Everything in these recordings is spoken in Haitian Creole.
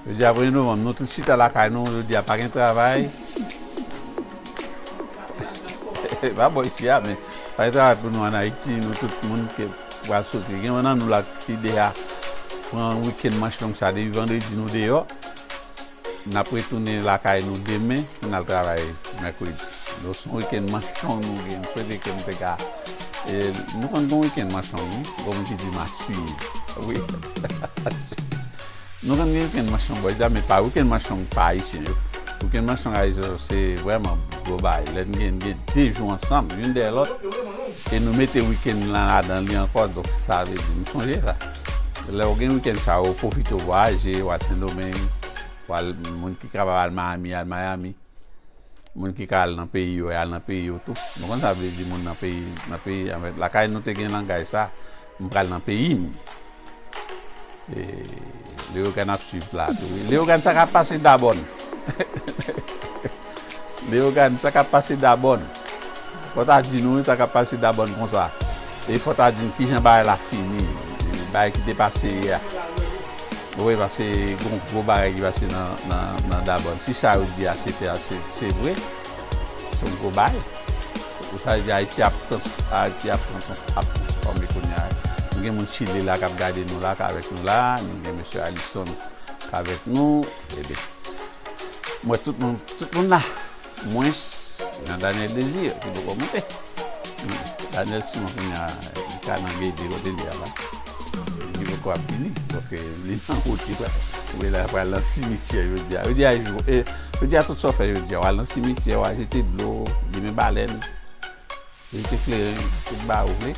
Jodi a premye novanm nou tout chita lakay nou jodi a pa gen travay E pa bo isi a men Pa gen travay pou nou an Ayiti nou tout moun ke pral soti Gen yon nan nou la ki deja pran wikenn manch long sa depi vandredi nou deyò N ap retounen lakay nou demen pou n al travay mèkredi. Donk se yon wikenn manchong nou gen. M swete ke m te ka e nou konn gen yon wikenn manchong wi. Gen moun ki di m a siye. Wi Nou konn gen wikenn manchong bò Dya men pa wikenn manchong pa ayisyen yo. Wikenn manchong ayisyen yo se vrèman gwo bagay. Lè n gen de jou ansanm youn dèyè lòt e nou mete wikenn lan ladan li ankò donk sa vle di m sonje sa. Lè ou gen weekend sa yo, pwofite ou vwayaje, ou al Sendomeng, ou al, moun ki kapab al Miami, al Miami. Moun ki ka al nan peyi yo, al nan peyi yo tou. Nou konn sa vle di moun nan peyi, nan peyi an fèt. Lakay nou te gen langay sa, m pral nan peyi m. E, Leyogàn ap swiv la tou wi. Leyogàn sa k ap pase Dabòn? Leogane, sa kap pase Dabòn? Fò ta di nou wi sa kap pase Dabòn konsa. E fò ta di n kijan bagay la fini, bagay ki te pase yè a. Ou wè pase gon gwo bagay ki pase nan Dabòn. Si sa yo di a se te a, se vre. Se yon gwo bagay. Pou sa yo di Ayiti ap Ayiti ap transfòme kounya. Nou gen moun Chile la kap gade nou la, k avèk nou la. Nou gen mesye Alison k avèk nou. Ebyen m wè tout moun tout moun la mwens Jean Daniel Désir ki poko monte Daniel Simon kounya li ka nan BD kote li ye a la li poko ap vini paske li nan wout li pral li pral nan simityè jodia jodia jou jodia tout sa w fè jodia w al nan simityè w al jete dlo li gen balèn. Li te klere li te ba ou vle.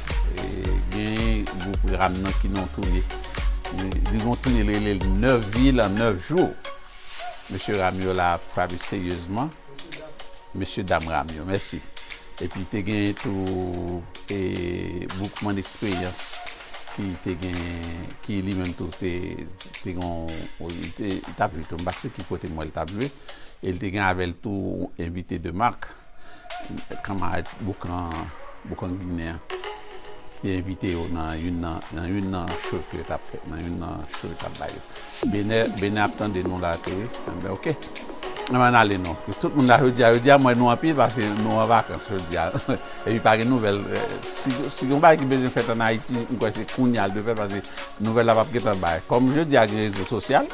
Genyen gwoup ram nan ki nan toune. Li gon toune li rele l 9 vil an 9 jou. Mesye ram yo la ap frape seryezman. Mesye dam ram yo. Mèsi. Epi te genyen tou Boukman Eksperyans ki te genyen ki li menm tou te te gon li te li t ap jwe tou m pa si ki kote m wè l t ap jwe. E li te gen avè l tou envite de mak. kanmarad Boukan Ginen an te envite yo nan youn nan show ke yo t ap fè, nan youn nan show yo t ap bay yo. Benè ap tande nou la tou wi. Anben ok. Anben n ale nou. Tout moun la jodi a. Jodi a m wè nou anpil paske nou an vakans jodi a. Epi pa gen nouvèl. Si gen yon bagay ki bezwen fèt ann Ayiti, m kwè se kounya l dwe fèt paske nouvèl la p ap gen tan bay. Kòm jodi a gen rezo sosyal.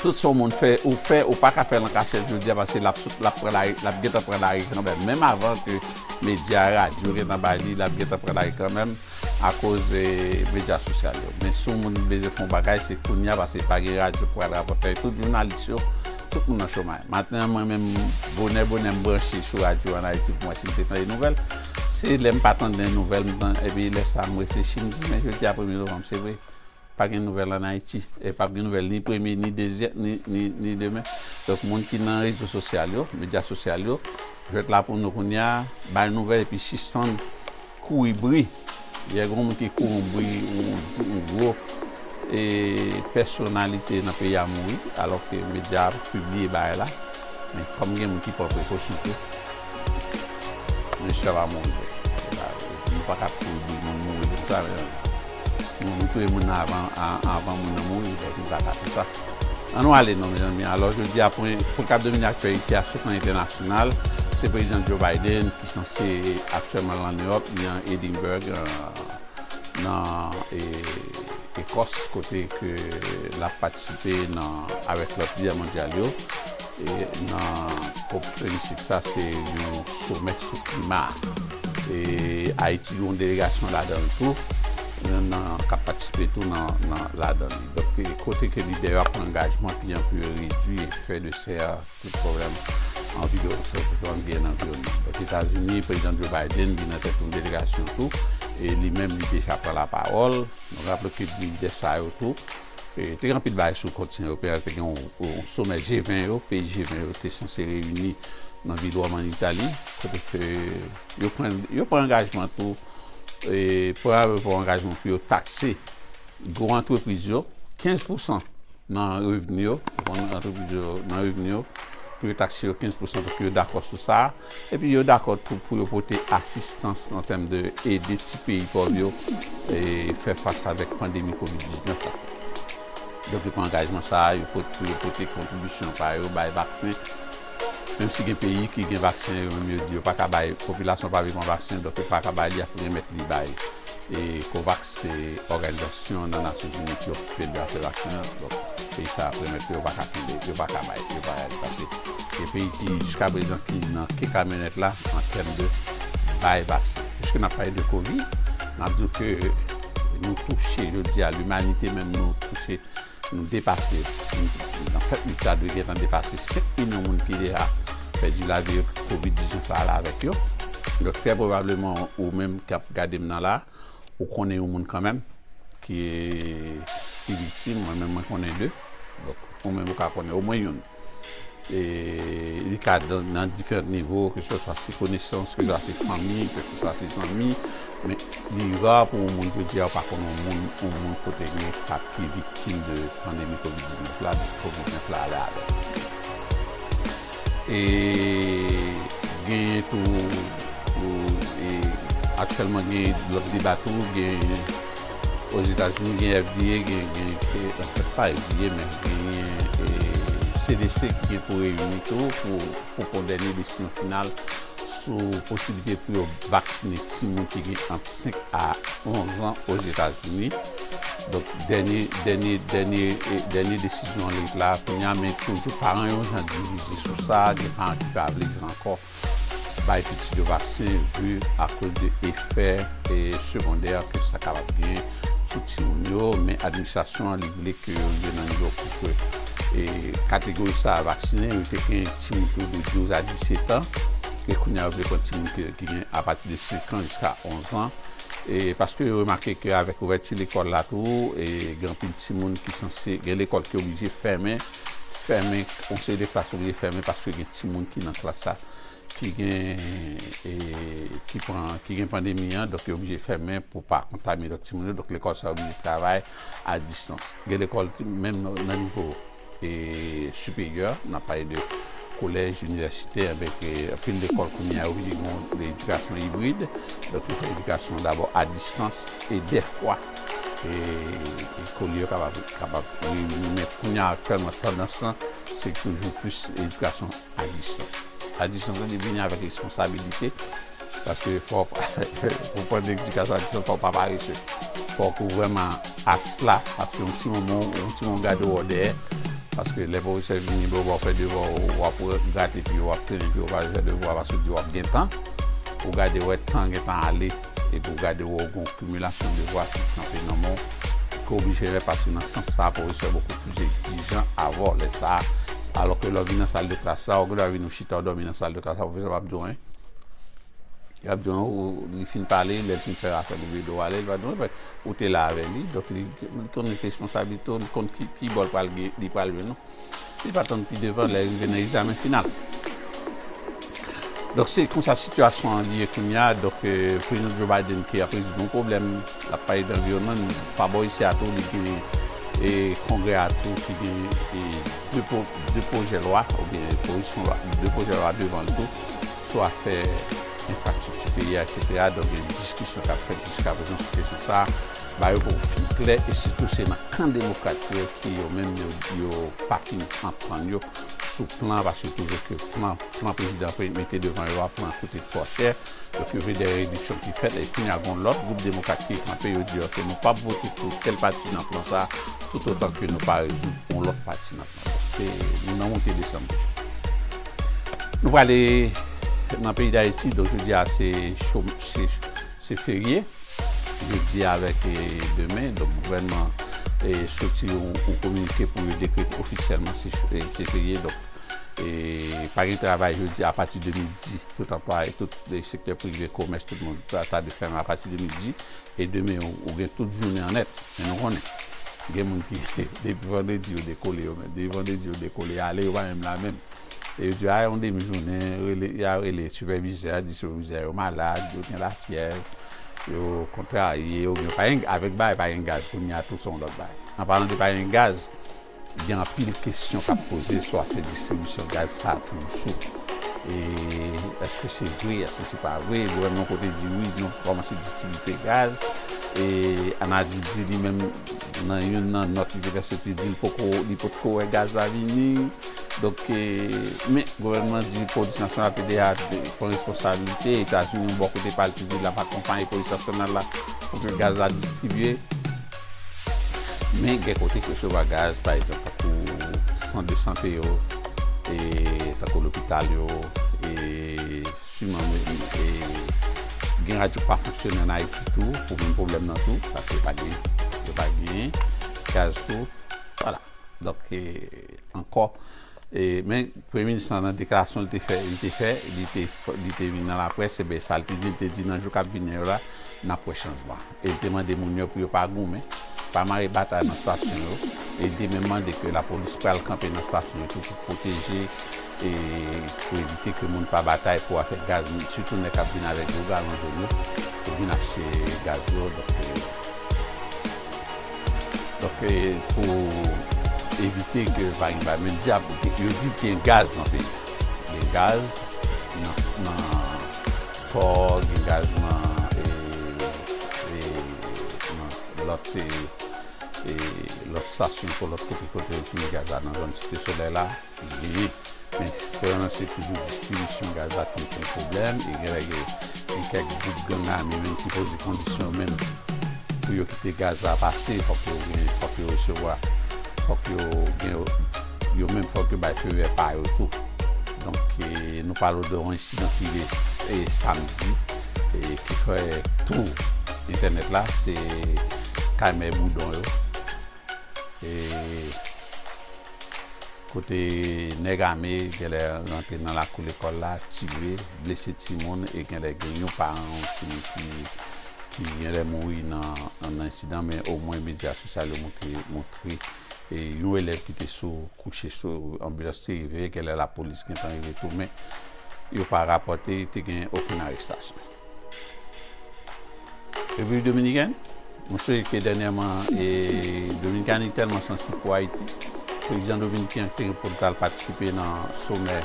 Tout sa yon moun fè ou fè ou paka fèl an kachèt jodia paske lap sot lap pran lari lap gentan pran lari kanmèm menm avan ke medya radyo gentan bay li lap gentan pran lari kanmèm akoz medya sosyal yo men si yon moun bezwen fè yon bagay se kounya paske pa gen radyo ki pral rapòtè tout jounalis yo tout moun nan chomay maten mwen menm bonè bonè m branche sou radyo an ayiti pou m wè si m te tande nouvèl se lèm pa tande nouvèl m tan epi lè sa m reflechi m di men jodia premye novanm se vre Pa gen nouvèl an Ayiti e pap gen nouvèl ni premye ni dezyè ni demen. Donk moun ki nan rezo sosyal yo, medya sosyal yo, jwèt la pou nou kounye a, bay nouvèl epi sispann kouri bri. Yè gen yon moun ki kouri yon bri yon gwo e pèsonalite nan peyi a mouri alò ke medya a pibliye bagay la. Men kòm gen moun ki pran prekosyon tou, mesye a pa mouri vre. Nou pa ka ap kouri bri moun mouri konsa. Nou nou touye moun nan avan moun nan mouri donk nou pa ka fè sa. An nou ale non mezanmi. Alò jodi a pou n kab domine aktyalite a sou plan entènasyonal, se Prezidan Joe Biden ki sanse aktyèlman lan New York, li an Edinburg nan Ekòs kote ke l ap patisipe nan avèk lòt lidè mondyal yo. E nan cop 26 sa se yon somè sou klima. E Ayiti gen yon delegasyon ladan l tou, yon nan k ap patisipe tou nan ladan li. Donk kote ke lidè yo ap pran angajman pi an pou yo redwi efè de sè a sou pwoblèm anviwòn, sou pwoblèm byen anviwònman. Donk Etazini, Prezidan Joe Biden li nan tèt yon delegasyon tou, e li menm li deja pran lapawòl. Nou raple ke lidè sa yo tou Te gen anpil bagay sou kont Sen Open, te gen yon somè G20 yo, peyi G20 yo te sanse reyini nan vil Wòm an Itali, kote ke yo pran, yo pran angajman tou, pran avèk yo angajman pou yo takse gwo antrepriz yo, 15 pousan nan revni yo, gwo antrepriz yo nan revni yo, pou yo takse yo 15 pousan, paske yo dakò sou sa a. Epi yo dakò tou pou yo pote asistans an tèm de ede ti peyi pòv yo fè fas avèk pandemi covid 19 la. Donk yo pran angajman sa a, yo pot pou yo pote kontribisyon pa yo bay vaksen, menm si gen peyi ki gen vaksen yo menm yo di yo pa ka bay, popilasyon pa vle pran vaksen donk yo pa ka bay li ak remèt li bay. Covax se òganizasyon nan Nasyonzini ki okipe de afè vaksen an. Donk, peyi sa a premèt ke yo pa ka kenbe, yo pa ka bay, yo pa ka li. Paske gen peyi ki jiska prezan ki nan ke kamyonèt la an tèm de bay vaksen. Piske n ap pale de kovid, n ap di w ke nou touche jodi a, limanite menm nou touche Nou depase nan fèt nou ta dwe gentan depase 5 milyon moun ki deja pèdi lavi yo pou covid 19 la ale avèk yo donk trè pwobableman ou menm kap gadem nan la ou konnen yon moun kanmenm ki viktim mwen menm mwen konnen 2 donk ou menm ou ka konnen omwen youn. Li ka nan diferant nivo, ke se swa se konesans, ke se swa se fanmi, ke se swa se zanmi, men li ra pou yon moun jodi a ou pa konn yon moun, yon moun kote gen kat ki viktim de pandemi kovid 19 la, depi kovid 19 la ale ale. E genyen tou, aktyèlman genyen lòt deba tou, genyen. Ozetazini gen FDA, gen pa FDA men genyen CDC ki gen pou reyini tou pou pran dènye desizyon final sou posiblite pou yo vaksinen timoun ki gen ant 5 a 11 an Ozetazini. Donk dènye dènye dènye dènye desizyon an ret la kounya men toujou paran yo jan divize sou sa, gen paran ki pa vle di ankò. Bay pitit yo vaksen vi akoz de efè segondè ke sa kapab gen sou timoun yo, men administrasyon an li vle ke yo rive nan nivo pou ke kategori sa a vaksinen yo te gen timoun ki gen 12 a 17 an, e kounye a yo vle pran timoun ki gen apati de 5 an jiska 11 an, e paske yo remake ke avèk ouvèti lekòl la tou gen anpil timoun ki sanse gen lekòl ki oblije fèmen. fèmen yon seri de klas oblije fèmen paske gen timoun ki nan klas la ki gen pandemi an donk yo oblije fèmen pou pa kontamine lòt timoun yo donk lekòl sa yo oblije travay a distans gen lekòl menm nan nivo siperyè nan pale de kolèj, inivèsite avèk anpil lekòl kounye a yo oblije gen yon edikasyon ibrid donk yo fè edikasyon dabò a distans e dèfwa e kole yo kapab kapab reyini men kounya aktiyèlman tandans lan se toujou plis edikasyon a distans a distans lan li vini avèk responsabilite paske fò pou pran edikasyon a distans fòw pa parese fòk ou vrèman as la paske yon ti moman yon ti moman gade wè w dèyè paske lè pwofesè vini wè w fè devwa w w ap grate pi w ap trennen pi w ap fè devwa paske w di w ap gen tan ou gade wè tan gentan ale Epi w gade wè w gen yon kimilasyon devwa ki kanpe nan men w, ou ka oblije repase nan sans sa a, pwofesè poko plis egzijan avè w lè sa a. Alò ke lè w vin nan sal de klas la, ou gendwa vin ou chita ou dòmi nan sal de klas la, pwofesè pap di w anyen. Li ap di w, li fin pale, lè l fin fè rafè l oubyen do w ale, li pa di w anyen paske ou te la avè li, donk li konn responsabilite w, li konn ki bò li pral jwenn ou. Li pa tann pi devan lè rive nan egzamen final. Donk se konsa sitiyasyon an ye kounya, donk prezidan Joe Biden ki ap rezoud yon pwoblèm, l ap pale de anviwònman, men pa bò isi a tou li genyen kongrè a tou ki genyen 2 pwojè lwa oubyen pwopozisyon lwa, 2 pwojè lwa devan l tou sou afè enfrastrikti peyi a eksetera, donk gen diskisyon k ap fèt jiskaprezan sou kesyon sa a. Ba yo pou fi klè e sitou se nan kan demokrat yo ki yo menm yo yo pa fin anprann yo sou plan paske yo twouve ke plan plan prezidan pre mete devan yo a plan koute twò chè yo twouve dè rediksyon ki fèt e kounya gon lòt gwoup demokrat ki kanpe yo di ok nou pap vote pou tèl pati nan plan sa toutotan ke nou pa rezoud yon lòt pati nan plan sa se nou nan moute desann toujou nou prale nan peyi dayiti donk jodia se chom se Se ferye jodi avèk demen, donk gouvènman e estrikti yo ou kominike pou yo dekrete ofisyèlman se ferye, donk pa gen travay jodi apati de midi, tout anplwaye, tout sektè prive, komès, tout moun ta dwe fèmen apati de midi, e demen ou gen tout jounen an nèt, men nou konnen gen moun ki depi vandredi yo dekole yo menm, depi vandredi yo dekole ale yo pa menm la menm. e yo di yo a yon demi jounen rele ya rele sipèvizè a di sipèvizè a yo malad yo gen lafyèv yo kontrarye oubyen yo pa gen avèk bagay pa gen gaz kounye a tou se yon lòt bagay anpalan de pa gen gaz gen anpil kesyon k ap poze sou afè distribisyon gaz sa a toujou e èske se vre èske se pa vre gouvènman kote di wi nou kòmanse distribite gaz e anadip di li menm nan youn nan nòt li te fè soti di l poko li potko wè gaz la vini. Donk, men gouvènman an di polis nasyonal te deja pran responsabilite, Etazini yon bò kote pa l te di l ap akonpaye polis nasyonal la pou ke gaz la distribye. Men gen kote ki resevwa gaz, pa egzanp tankou sant de sante yo, tankou lopital yo, siman gen radyo pa fonksyone an Ayiti tou pou menm pwoblèm nan tou, paske yo pa gen gaz tou. Wala. ankò e men premye minis lan nan deklarasyon li te fè li te fè li te vin nan laprès e ben sa li te di li te di nan jou kap vini yo la nap wè chanjman e li te mande moun yo pou yo pa goumen pa mare batay nan stasyon yo e li te menm mande ke lapolis pral kanpe nan stasyon yo tou pou pwoteje e pou evite ke moun pa batay pou afè gaz moun sitou nèg kap vin avèk gwo galon jòn yo pou vin achte gaz yo donk. Donk pou evite ke pa gen bay menm dyab, yo di gen gaz nan peyi a. Gen gaz nan pò, gen gaz nan lòt stasyon, lòt kote kote yo pini gaz la nan zòn site solèy la. Veye, men fè yon lanse toujou distribisyon gaz la toujou konn pwoblèm e genlè gen kèk gwoup gang ame menm ki poze kondisyon yo menm pou yo kite gaz la pase fòk yo gen fòk yo resevwa fòk yo gen yo menm fòk yo bay fevè pa yo tou donk nou pale de yon ensidan ki rive samdi e ki fè tou entènèt la se kay mèboudon yo. e kote nèg ame genlè rantre nan lakou lekòl la tire, blese timoun e genlè gen yon paran yon timoun ki genlè mouri nan ensidan men omwen medya sosyal yo montre montre e yon elèv ki te sou kouche sou anbilans te rive genlè lapolis gentan rive tou men yo pa rapòte te gen okenn arestasyon. Repiblik Dominikèn, Mwen sonje ke dènyèman Dominikani tèlman sansib pou Ayiti, prezidan dominiken an te gen pou l ta al patisipe nan somè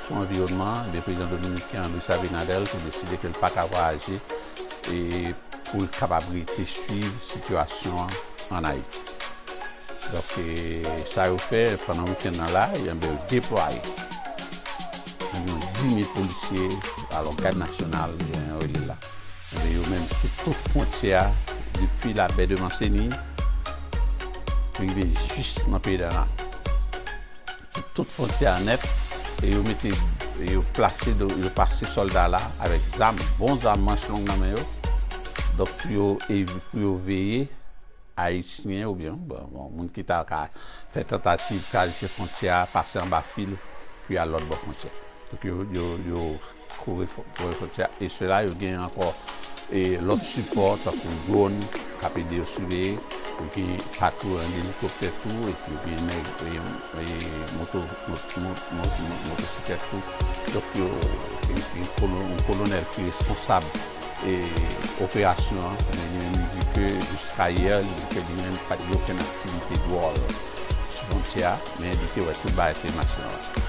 sou anviwònman an, ebyen prezidan dominiken an Luis Abinader te deside ke l pa ka vwayaje pou l kapab rete swiv sitiyasyon an ann Ayiti. Donk sa yo fè pandan wikenn nan la, ebyen yo deplwaye. Gen yon 10,000 polisye alò Gad Nasyonal jan yo rele l la. Enben yo menm sou tout fwontyè a depi Labè de Manseni rive jis nan peyi dè Nal. Sou tout fwontyè a nèt e yo mete yo plase yo pase sòlda la avèk zam bon zam manch long nan men yo donk pou yo veye Ayisyen oubyen bon moun ki ta ka fè tantativ travèse fwontyè a pase anba fil pou y al lòt bò fwontyè a. Donk yo yo yo kore kore fwontyè a e sila yo gen ankò e lòt sipò tankou dwòn k ap ede yo siveye, yo gen patrou an gen elikoptè tou epi yo gen nèg e e moto mo motosiklèt tou donk yo gen gen yon kolonèl ki responsab. e operasyon an men li menm li di ke jiska yè li di ke li menm li pat gen okenn aktivite dwòl sou fwontyè a men li te wè tout bagay te mache nòmal.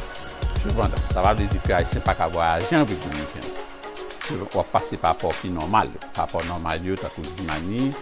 Sepandan, sa pa vle di ke ayisyen pa ka vwayaje an Repiblik Dominikèn. Wap pase pa pò ki nòmal yo, pa pò nòmal yo tankou Dimani,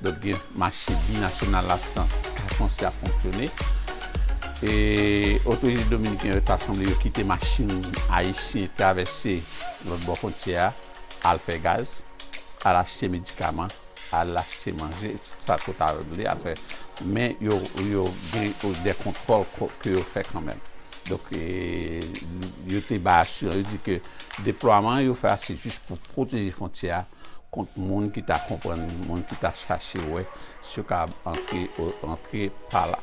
Donk gen mache binasyonal la ta sanse ap fonksyone e otorite dominiken yo ta sanble yo kite machin ayisyen travèse lòt bò fwontyè a al fè gaz, al achte medikaman, al achte manje, tout sa yo ta vle al fè. Men yo gen dè kontwòl ke yo fè kanmenm. Donk yo te bay asirans, yo di ke deplwaman yo fè a se jis pou pwoteje fwontyè a. kont moun ki ta konprann li, moun ki ta chache wè si yo kapab antre, rantre pa la,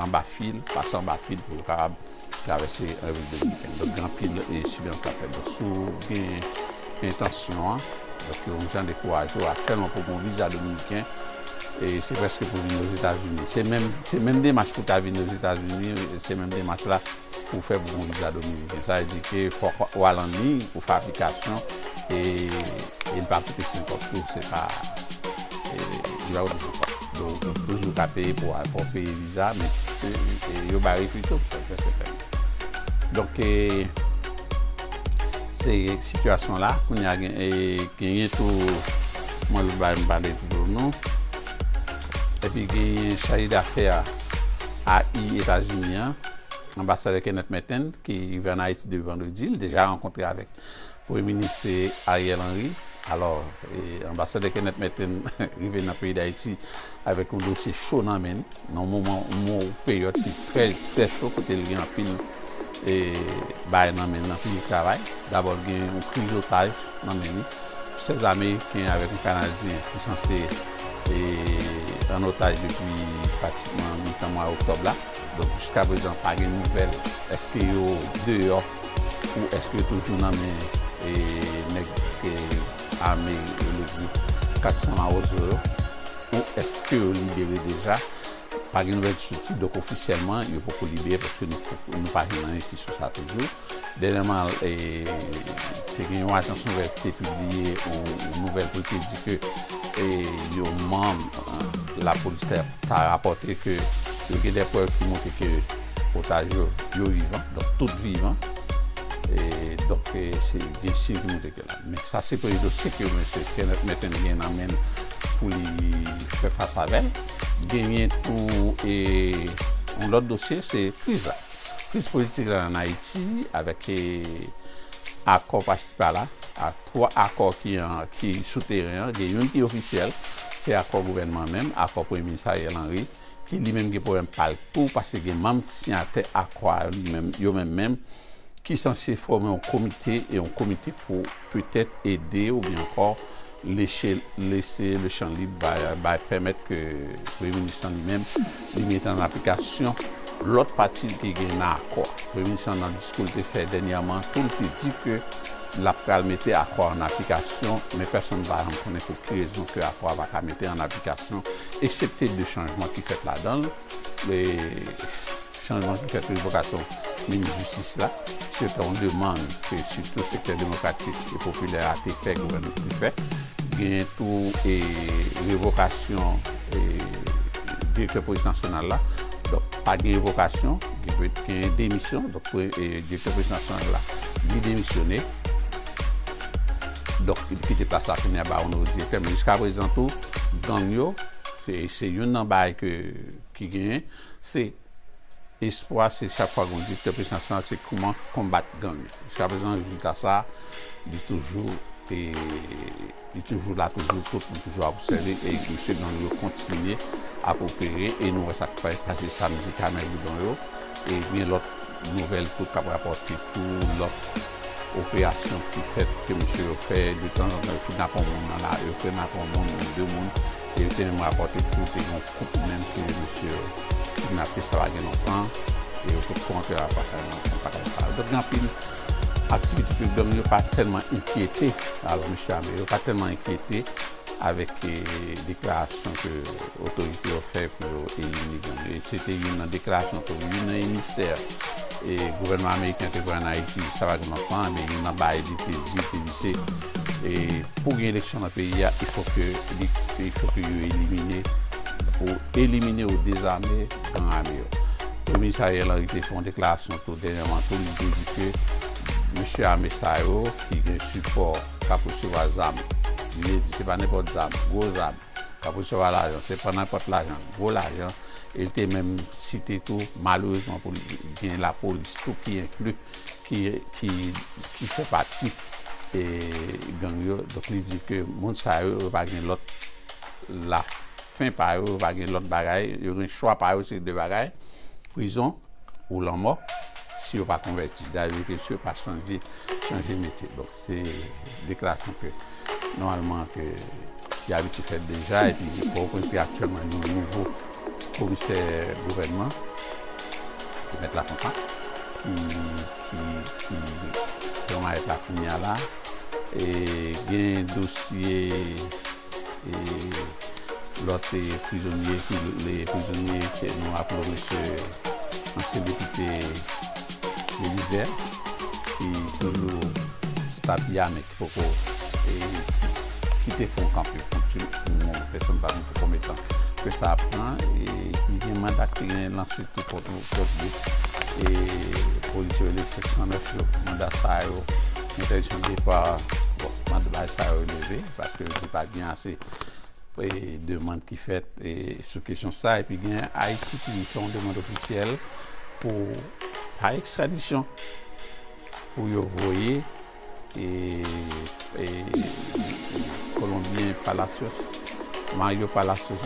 anba fil, pase anba fil pou yo kapab travèse Repiblik Dominikèn. Donk gen anpil siveyans k ap fèt. Donk si w gen entansyon an, donk yo gen jan dekouraje w aktyèlman pou w gen yon viza dominiken, e se prèske pou w vini Ozetazini. Se menm, se menm demach pou w ta vini Ozetazini, se menm demach la. pou fè bon viza dominiken. Sa vle di ke fòk ou al an liy, ou fè aplikasyon e li pa koute senkòb tou, se pa, li pa koute senkòb. Donk ou toujou ka peye pou al, pou peye viza men yo bay refi tou, sa se sèten. Donk ke se sitiyasyon la, kounye a genyen tou mwen vle bay m pale pou nou. Epi genyen chaje dafè a i Etazini an. Anbasadè Kenneth Merten, ki rive an Ayiti depi vandredi, li deja rankontre avèk Premye Minis Ariel Henry. Alò, Anbasadè Kenneth Merten rive nan peyi Dayiti avèk yon dosye cho nan men li, nan yon moman, yon peryòd ki trè, trè cho, kote li gen anpil bagay nan men li, anpil travay. Dabò, li gen yon kriz otaj nan men li. 16 Ameriken avèk yon Kanadyen ki sanse ann otaj depi pratikman mitan mwa oktòb la. Donk jiska prezan pa gen nouvèl eske yo deyò ou eske yo toujou nan men nèg ame yo le gwoup 400 mawozo yo ou eske yo libere deja pa gen nouvèl sou ti dòk ofisyèlman yo poko libere paske nou pa jwenn anyen ki sou sa toujou. Dènyèman, te gen yon ajans nouvèl ki te pibliye yon nouvèl pou l te di ke yon manm lapolis ta rapòte ke yo gen dè prèv ki montre ke otaj yo, yo vivan, donk tout vivan, donk se gen siy ki montre ke la. Men sa se premye dosye ke mesye Kenneth Merten gen nan men l pou li fè fas avè l. Genyen tou yon lòt dosye, se kriz la. Kriz politik la an Ayiti avèk akò pasi pala, twa akò ki sou teren an, gen youn ki ofisyèl, se akò gouvènman an menm, akò Premye Minis Ariel Henry, ki li menm gen pwoblèm pa l tou pase gen manm ki siyatè akò a yo menm menm ki sanse fòme yon komite, yon komite pou. petèt ede oubyen ankò leche lese le chan lib bay bay pèmèt ke Premye Minis lan li menm li mete an aplikasyon lòt pati li te gen nan akò a. Premye Minis lan nan diskou li te fè dènyèman an tou li te di ke l ap pral mete akò a an aplikasyon men pèsonn pa janm konnen pou ki rezon ke akò a pa ka mete an aplikasyon eksepte de chanjman ki fèt ladan l. Chanjman pou kèk revokasyon minis jistis la, se te yon demann ke sitou sektè demokratik e popilè a te fè gouvènman pou li fè. Genyen tou revokasyon direktè polis nasyonal la. Donk, pa gen revokasyon, gen demisyon. Donk, direktè polis nasyonal la, li demisyone. Donk, li kite plas la kounye a ba yon nouvo direktè. Men jiska prezan tou, gang yo, se youn nan bagay ki genyen. Se espwa se chak fwa gon direktè polis nasyonal se kouman konbat gang. Jiska prezan rezilta sa li toujou e li toujou la toujou tout li toujou ap obsève e misye gang yo kontinye ap opere e nou wè sa k fèk pase samdi kameroudon yo e gen lòt nouvèl tou k ap rapòte tou lòt operasyon ki fèt ke misye yo fè detanzantan yo kidnape yon moun nan lari yo frenake yon moun oubyen 2 moun e yo te menm rapòte tou te gen yon Kont ou menm ke misye kidnape sa pa gen lontan e yo potko antre al paka nan fon paka sa. Donk gen anpil aktivite ke gang yo pa tèlman enkyete avk mesye ame yo, pa tèlman enkyete avèk deklarasyon ke otorite yo fè pou yo elimine gang yo. E se te youn nan deklarasyon ke youn nan emisè gouvènman ameriken te voye an Ayiti sa pa gen lontan, youn nan bagay li te di, li te di se. E pou gen eleksyon nan peyi a, il fò ke il fò ke yo elimine ou elimine ou dezame gang ame yo. Premye minis Ariel Henry te fè yon deklarasyon tou dènyèman tou li te di ke mesye ame sa yo ki gen sipò k ap resevwa zam li te di se pa nenpòt zam, gwo zam k ap resevwa lajan se pa nenpòt lajan, gwo lajan e li te menm site tou malerezman pou li gen lapolis tou ki enkli ki fè pati gang yo donk li di ke moun sa yo yo pa gen lòt la fen pa yo yo pa gen lòt bagay yo gen chwa pa yo se de bagay prizon ou lanmò si yo pa konvèti da di ke si yo pa chanje chanje metye bon. Se deklarasyon ke nòmalman ke te abitye fèt deja epi Pòtoprens gen aktyèlman yon nouvo komisè gouvènman ki mèt Lafontan ki pran mayèt la kounya la e gen dosye Lòt prizonye ki rele prizonye ke nou aple w misye ansyen depite Belize ki toujou sou tapi a men ki poko kite fon kanpe pou ti moman pou pèsonn pa di pou konbe tan ke sa ap pran e pi gen manda ki gen lanse tou kont nou kont nou e polis yo rele 509 yo manda sa yo entèdiksyon depa bon manda sa yo leve Paske yo di pa gen ase demand ki fèt sou kesyon sa. Epi gen Ayiti ki fè yon demand ofisyèl pou pa ekstradisyon. Pou yo voye kolonbyen Palacios, Mario Palacios,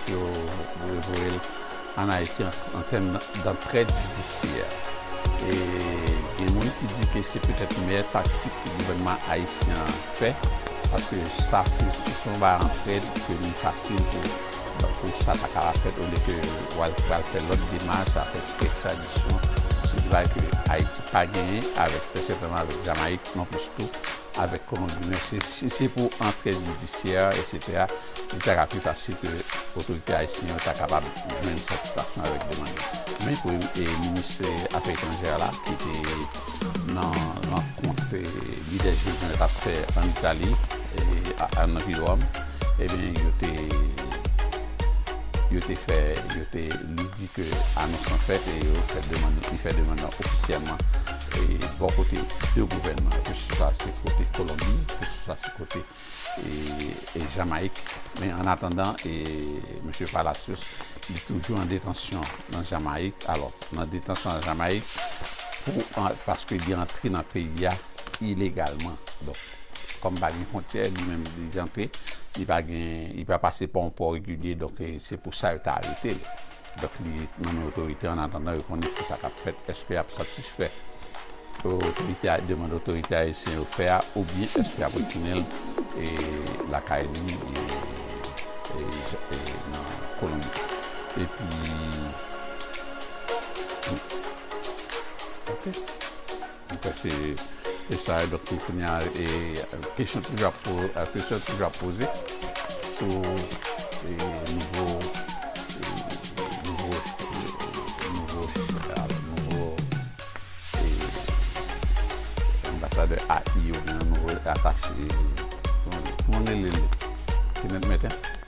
pou yo voye l An Ayiti an tèm dantrèd jidisyè e gen moun ki di ke se petèt meyè taktik ke gouvènman ayisyen an fè paske sa se sous yon bagay antrèd ke li fasil pou sa ta kaba fèt olye ke w al pral fè lòt demach a fè ti ekstradisyon se de bagay ke Ayiti pa genyen avèk trè sètènman avèk Jamayik non plis tou avèk Kolonbi men si se pou antrèd jidisyè etc. li ta ka pi fasil ke otorite ayisyen yo ta kapab jwenn satisfaksyon avèk demann yo. Men minis afè etranjè a la ki te nan rankont lidè G20 yo t ap fè ann Itali, nan vil Ròm, ebyen yo te yo te fè yo te li di ke anons lan fèt e yo fè demann li fè demann lan ofisyèlman bò kote 2 gouvènman yo, keseswa se kote Kolonbi, keseswa se kote. e Jamayik men an atandan e Mesye Palacios li toujou an detansyon nan Jamayik alò nan detansyon nan Jamayik pou an paske li antre nan peyi a ilegalman donk kòm pa gen fontyè li menm li antre li pa gen li pa pase pa yon pò regilye donk se pou sa yo ta arete l. Donk li nonmen otorite an atandan yo konnen ki sa k ap fèt. Èske y ap satisfè demann otorite ayisyen yo fè a oubyen èske y ap retounen l lakay li nan Kolonbi? Epi. Mwen kwè se sa yo. Donk pou kounya e kesyon toujou ap po, kesyon toujou ap poze sou e nouvo e nouvo e nouvo al nouvo e anbasadè ai yo, nouvo atache e kouman nou rele l? Kenneth Merten?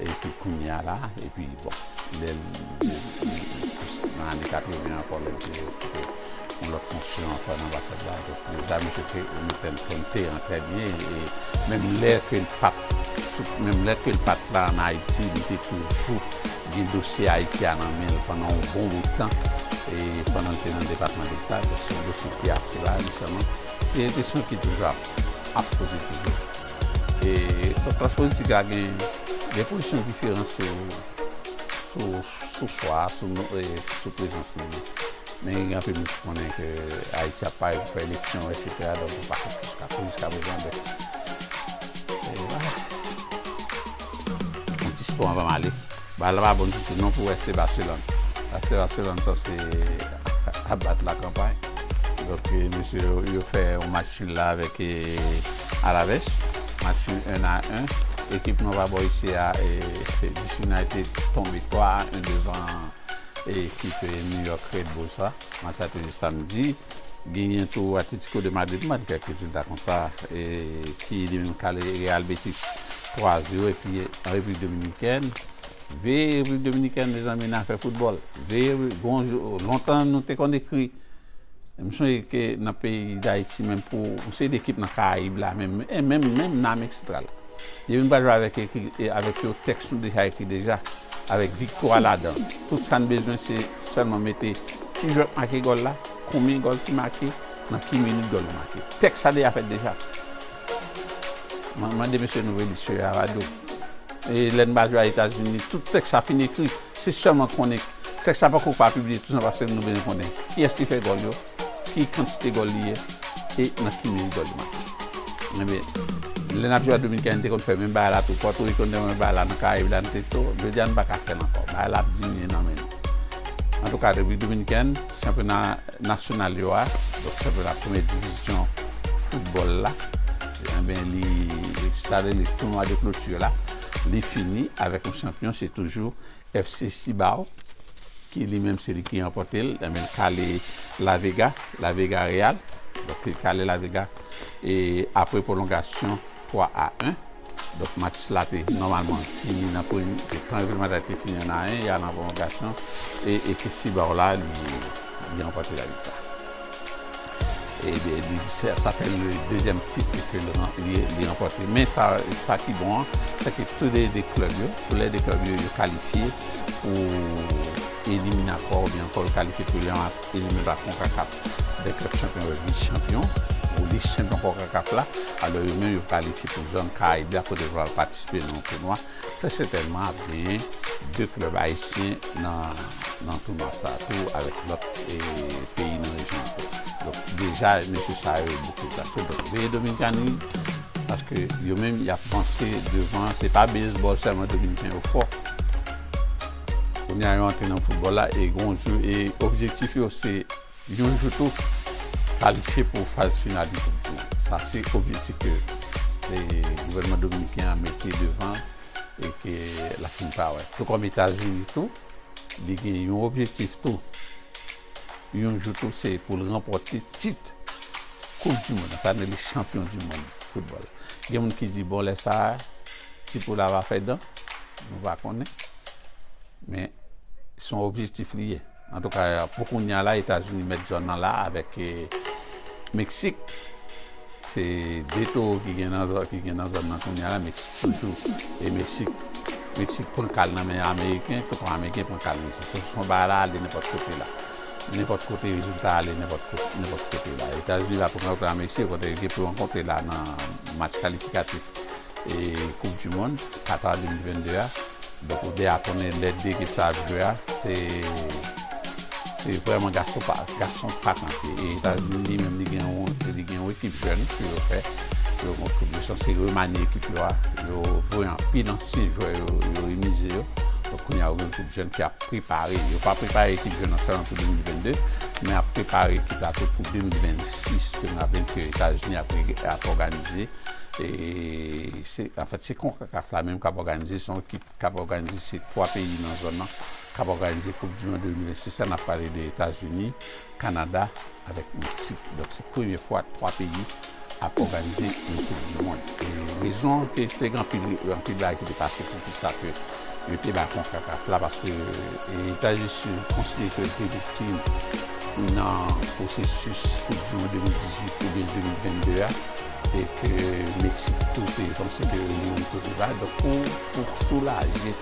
Epi kounye a la, epi bon, lè l plis nan ane 80 ankò lè l te okipe yon lòt fonksyon ankò nan anbasad la, donk yo ta mete fè o Newton Conte an trè byen e menm lè ke l pa t sou, menm lè ke l pa t la an Ayiti, li te toujou gen dosye Ayiti a nan men l pandan yon bon bout tan e pandan l te nan Depatman Deta, dosye ki ase laj, e se yon kesyon ki toujou ap poze toujou. e klas politik la gen de pozisyon diferan sou chwa sou prezans li men gen anpil moun ki konnen ke ayiti ap pare pou fè eleksyon etc donk ou pa konn ki chwa pou jiska prezan donk e wala mwen dispo anvan m ale Bal la pa bon ditou non pou FC Barcelone. FC Barcelone sanse ap bat la kanpay. Donk mesye yo fè yon match nul la avèk Alaves. Match nul 1 a 1. Ekip nou pa bò isi a DC United tonbe 3 a 1 devan ekip New York Red Bulls la. Match sa te jwe samdi. Genyen tou Atletico de Madrid m pa di kèk rezilta konsa ki li menm kale Real Betis 3 0 epi an repiblik dominikèn veye repiblik dominikèn mezanmi nan afè foutbòl veye gon jou lontan nou te konn ekri m sonje ke nan peyi dayiti menm pou yon seri dekip nan karayib la menm e menm menm nan amerik santral depi nou pa jwe avèk ekri avèk yo tèks nou deja ekri deja avèk viktwa ladan tout sa n bezwen se sèlman mete ki jwè k make gòl la konbyen gòl ki make nan ki minit gòl yo make tèks sa deja fèt deja. Mwen mande mesye nou reli sye a rado. E lè n pa jwe a Etazini, tout tèks sa fin ekri. Se sèlman konnen tèks sa poko pa pibliye tou san paske nou bezwen konnen kiyès ki fè gòl yo, ki kantite gòl li ye e nan ki meri gòl li make. Enben, lè n ap jwe a Dominikani nou te konn fè menm bagay la tou. Pòtoriko nou te konn fè bagay la, nan Karayib la nou te tou. Jodi a nou pa ka fè l ankò. Bagay la ap diminye nan men nou. Antouka, Repiblik Dominikèn, chanpyona. Nasyonal yo a, donk chanpyona premye divizyon foutbòl la, enben li sa rele tounwa de kloti la, li fini avèk yon chanpyon, se toujou FC Cibao ki li menm se li ki ranpòte l, enben l kale La Vega, La Vega Real, donk li kale La Vega e apre pwolongasyon. 3 a 1, donk match la te nòmalman fini nan premye mi-tan, tan reglemantè te fini 1 a 1, y'al nan pwolongasyon e ekip Cibao la li ranpòte la viktwa. Sa fè li dezyèm tit ke li ranpòte. Men sa ki bon an, se ke tou lè 2 klèb yo, tou lè 2 klèb yo yo kalifye pou eliminatwa oubyen ankò yo kalifye pou Eli Meba Konkakaf Tibè Klèb Chanpyon yo vin chanpyon pou lis chanpyon Konkakaf la, alò yo menm yo kalifye pou zòn Karayib la kote yo pral patisipe nan yon tounwa trè sètènman ap genyen 2 klèb ayisyen nan tounwa sa tou avèk lòt peyi nan rejyon an tou. Donk deja mesye sa yo bouke zak yo donk veye Dominikani paske yo menm y ap panse devan se pa beyzbòl sèlman Dominiken yo fò. Kounye a yo antre nan foutbòl la e gen yon jou e objektif yo se yon jou tou kalifye pou faz final yon koup tou. Sa se objektif ke gouvènman dominiken an mete devan e ke l ap fin pa wè. Tou kòm Etazini tou, li gen yon objektif tou. Yon jou tou se pou l ranpòte tit koup du mond, sa vle di chanpyon du mond foutbòl. Gen moun ki di bon lè sa a ti poul la va fè dan, nou pa konnen men son objektif li ye. Antouka pou kounya la Etazini mèt zòn nan la avèk Meksik. Se 2 towo ki gen nan zòn nan kounye a, Meksik toujou. E Meksik, Meksik pran kal nan men Ameriken, tonton Ameriken pran kal Meksik. Se yon bagay la ale nenpòt kote la. Nenpòt kote rezilta a ale nenpòt kote la. Etazini va pran kal Meksik, yo gen pou yo rankontre la nan match kalifikatif. e koup du mond Qatar 2022 a donk ou deja konnen lè 2 ekip sa ap jwe a se se vrèman gason pa gason pa kanpe e etazini li menm li gen yon li gen yon ekip jèn ke yo fè pou yo konn koup yo se remanye ekip yo a yo voye anpil ansyen jwè yo yo remize yo donk kounye a ou gen ekip jèn ki ap prepare yo pa prepare ekip jèn an sèlman pou 2022 men ap prepare ekip la tou pou 2026 ke nou ap gen ke etazini ap ap òganize Anfèt, se konkakaf la menm k ap òganize, se yon ekip k ap òganize, se 3 peyi nan zòn nan k ap òganize koup di mond 2026 la, n ap pale de Etazini, Kanada avèk Meksik. Donk se premye fwa 3 peyi ap òganize yon koup di mond. Rezon ke se gen anpil anpil bagay ki te pase poukisa ke. Yo te bay konkakaf la paske Etazisyen konsidere ke l te viktim nan pwosesis koup di mond 2018 oubyen 2022 a e ke Meksik tou te konsidere li yon kote ba. Donk pou soulaje,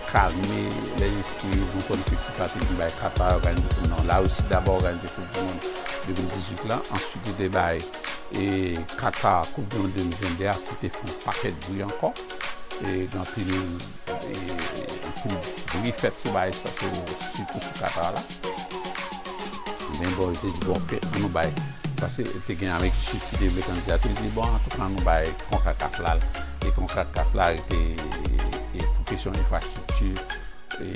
kalme lèzespri yo, nou konn ke fifa te vin bay Katar òganize, non, Larisi daba òganize koup di mond 2018 la, answit yo te bay Katar koup di mond 2022 a ki te fè yon pakèt bri ankò. e gen anpil bri fèt sou bagay sa sitou sou Qatar la men bon yo te di bon ke nou bay paske te gen Amerik di Sid ki te vle kandida te di bon antouka nou bay Concacaf la l e Concacaf la rete pou kesyon enfrastrikti e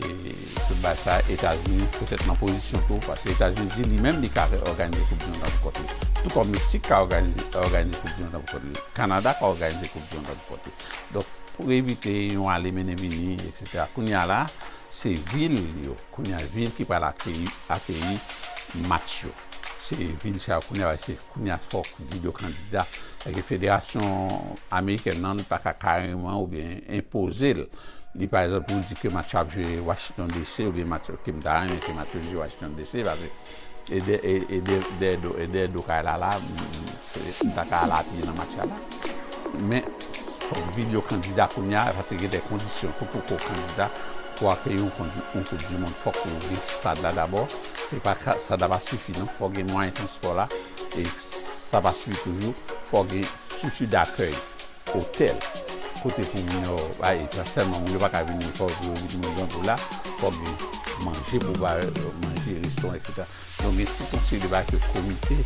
Tout bay sa Etazini petèt nan pozisyon tou paske Etazini di li menm li ka reòganize koup di mond la pou kont li. Tou kòm Meksik ka òganize koup di mond la pou kont li. Kanada ka òganize koup di mond la pou kont li. Donk pou evite yon ale mennen vini eksetera kounye a la se vil yo kounye a vil ki pral akeyi match yo. Se vil sa yo kounye a la se. Kounye a fòk di de kandida. Eske federasyon amerikèn nan li pa ka kareman oubyen enpoze l. Li pa egzanp pou l di ke match yo ap jwe Wachiton DC oubyen match yo, ke m ta renmen ke match yo jwe Wachiton DC pase e dè e dè dè do e dè do kay la la m ta ka al apye nan match la la. Men fòk vide yo kandida kounye a pase gen de kondisyon tou pou ke w kandida pou w apye yon kondisyon yon koupdimond fòk ou gen stad la dabò. Se pa ka, sa ta pa sifi non. Fò gen mwayen transpò la. E sa pa sifi toujou. Fò gen strikti dakèy, otèl, kote pou moun yo bay. E pa sèlman, moun yo pa ka vin ni pòv yo vin moun grangou la. Fò gen manje pou ba yo manje, restoran, eksetera. Donk gen tout yon seri de bagay ke komite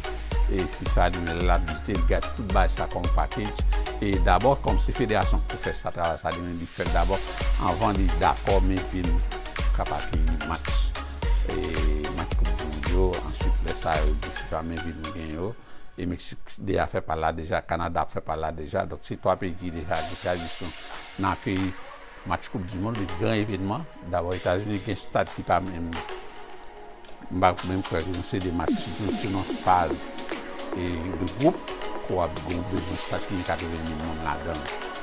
e fifa di men l ap vizite, li gad tout bagay sa kòm pakej. E dabò, kòm se federasyon ki pou fè sa, travay sa, li menm li fè l dabò anvan li dakò men ke nou ka pa genyen match. Match koup du mond yo, answit lè sa yo di fifa men vil nou gen yo, e Meksik deja fè pa l la deja, Kanada ap fè pa l la deja, donk se 3 peyi ki deja gen tradisyon nan akeyi match koup du mond, li gran evenman, dabò Etazini gen stad ki pa menm m pa menm kwè ke nou se de match si nou se nan faz de gwoup, ke w ap gen bezwen stad ki gen 80 mil moun ladan l.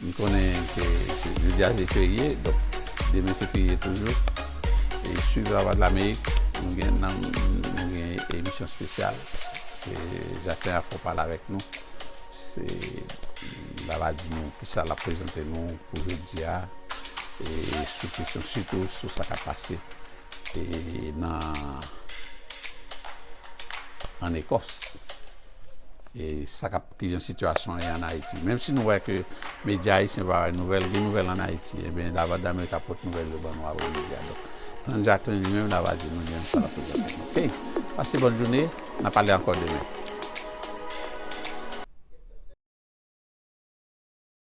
M konnen ke jodi a se ferye, donk demen se ferye toujou. E swiv Lavwadlamerik, nou gen nan nou gen emisyon spesyal ke Jaklen a fè w pale avèk nou. Se la va di nou ki sa l ap prezante nou pou jodi a e sou kesyon sitou sou sa k ap pase e nan ann Ekòs e sa k ap Ki jan sitiyasyon an ye an Ayiti? Menm si nou wè ke medya ayisyen pa bay nouvèl, gen nouvèl an Ayiti. Enben, Lavwadlamerik ap pote nouvèl yo ban nou a Wayne Media. Donk, tann Jacqueline li menm la va di nou li menm sa l ap prezante nou. Okey! Pase bòn joune, n ap pale ankò demen.